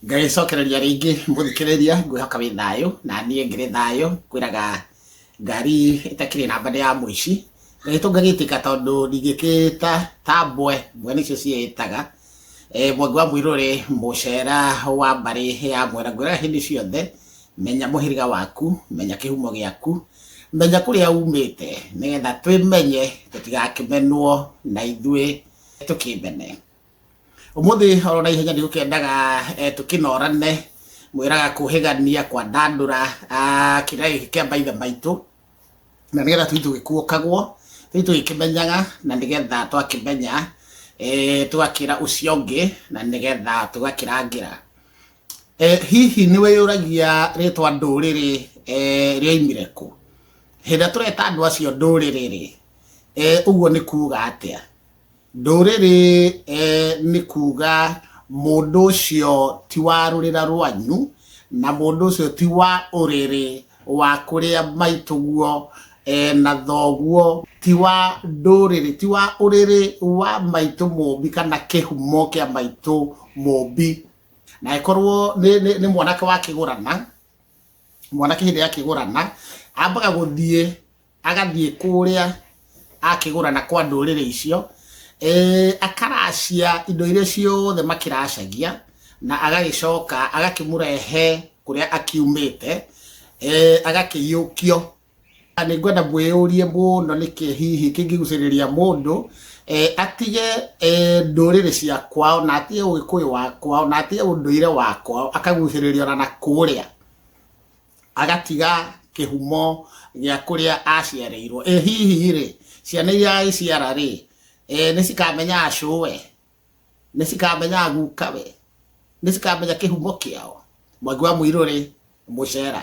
ngagĩcokereria rĩngĩ mũthikĩrĩria ngwĩhoka wĩ thayũ na niĩ ngĩrĩ thayũ kwĩraga ngari ĩtakĩrĩ namba nĩ ya mũici gagĩtũ ngagĩtĩka tondũ ndingĩkĩta ta mbwe mbwe nĩcio ciĩtaga eh, mwangi wa mũirũrĩ mũcera wa mbarĩ ya mwera ngwĩraga hĩndĩ ciothe menya mũhĩrĩga waku menya kĩhumo gĩaku menya kũrĩa umĩte nĩgetha twĩmenye tũtigakĩmenwo na ithuĩ tũkĩmene Ũmũthĩ oro na ihenya nĩ gũkendaga eh, tũkĩnorane mwĩraga kũhĩgania kwa ndandũra ah, kĩrĩa gĩkĩ kĩa maithe maitũ na nĩgetha tũi tũgĩkuokagwo tũi tũgĩkĩmenyaga na nĩgetha twakĩmenya eh, tũgakĩra ũcio ũngĩ na nĩgetha tũgakĩrangĩra Eh, hihi nĩ wĩyũragia rĩtwa ndũrĩrĩ eh, rĩoimire kũ hĩndĩ ĩrĩa tũreta andũ acio ndũrĩrĩ rĩ eh, ũguo nĩ kuuga atĩa Ndũrĩrĩ nĩ kuuga mũndũ ũcio ti wa rũrĩra rwanyu, na mũndũ ũcio ti wa ũrĩrĩ wa kũrĩa maitũguo na thoguo, ti wa ndũrĩrĩ, ti wa ũrĩrĩ wa maitũ mũmbi kana kĩhumo kĩa maitũ mũmbi. Na angĩkorwo nĩ mwanake wakĩgũrana, mwanake hĩndĩ ĩrĩa akĩgũrana, ambaga gũthiĩ agathiĩ kũrĩa akĩgũra na kwa ndũrĩrĩ icio, eh, akaracia indo iria ciothe makĩracagia na agagĩcoka agakĩmũrehe kũrĩa akiumĩte, eh, agakĩiyũkio. Na nĩ ngwenda mwĩyũrie mũno nĩkĩ hihi kĩngĩgucĩrĩria mũndũ eh, atige eh, ndũrĩrĩ cia kwao na atige ũgĩkũyũ wa kwao na atige ũndũire wa kwao akagucĩrĩrio na na kũrĩa agatiga kĩhumo gĩa kũrĩa aciarĩirwo ĩ hihi rĩ ciana iria aiciara rĩ eh, nĩ cikamenya acũwe nĩ cikamenya gukawe nĩ cikamenya kĩhumo kĩao mwangi wa mũirũ rĩ mũcera